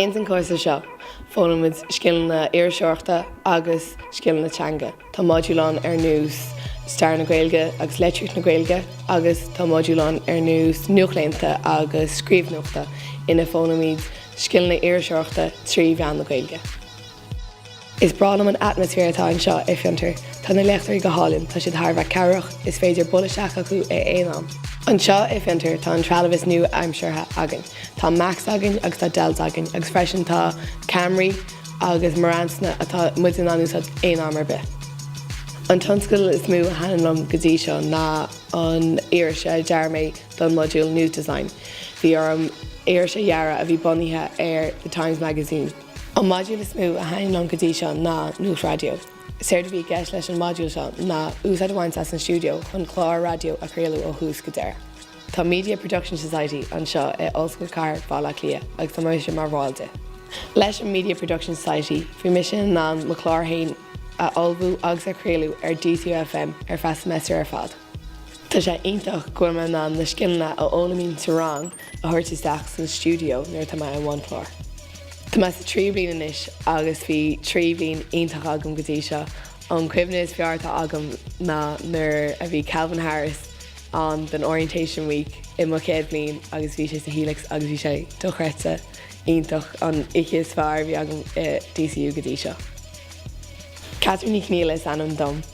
Ins an cúrsa seo, foghlaimid scileanna iriseoireachta agus scileanna teanga. Tá modúil ann ar nós Stair na Gaeilge agus Litríocht na Gaeilge agus tá modúil ann ar nós Nuacht Laethúil agus Scríobh Nuachta ina bhfoghlaimid scileanna iriseoireachta trí mheán na Gaeilge. Is breá liom an atmaisféar atá anseo i Fiontar. Tá na léachtóirí go hálainn, tá siad thar a bheith cabhrach, is féidir dul isteach chucu ag aon am. Anseo i Fiontar tá an trealamh is nua-aimseartha againn. Tá Macs againn agus tá Dells againn agus freisin tá ceamraí agus Marantz-anna atá muid in ann úsáid aon am ar bith. An tionscadal is mó a thaitníonn liom go dtí seo ná an iris a dhear mé don modúl News Design. Bhí orm iris a dhearadh a bhí bunaithe ar The Times Magazine. An modúl is mó a thaitníonn liom go dtí seo ná Nuacht Raidió. Séard a bhí i gceist leis an modúl seo ná úsáid a bhaint as an stiúideo chun clár raidió a chraoladh ó thús go deireadh. Tá Media Production Society anseo i Ollscoil Cathair Baile Átha Cliath agus tá mise mar bhall di. Leis an Media Production Society bhí mise in ann mo chlár féin a ullmhú agus a chraoladh ar DCU FM ar feadh seimeastair ar fad. Tá sé iontach go bhfuil mé in ann na scileanna a fhoghlaimím sa rang a thabhairt isteach san stiúideo nuair atá mé i mbun cláir. Tá mé sa tríú bliain anois agus bhí trí bhliain iontach agam go dtí seo. An cuimhne is fearr atá agam ná nuair a bhí Calvin Harris ann don Orientation Week i mo chéad bhliain agus bhí sé sa Helix agus bhí sé dochreidte iontach, an oíche is fearr a bhí agam i DCU go dtí seo. Catherine Ní Chonaola is ainm dom.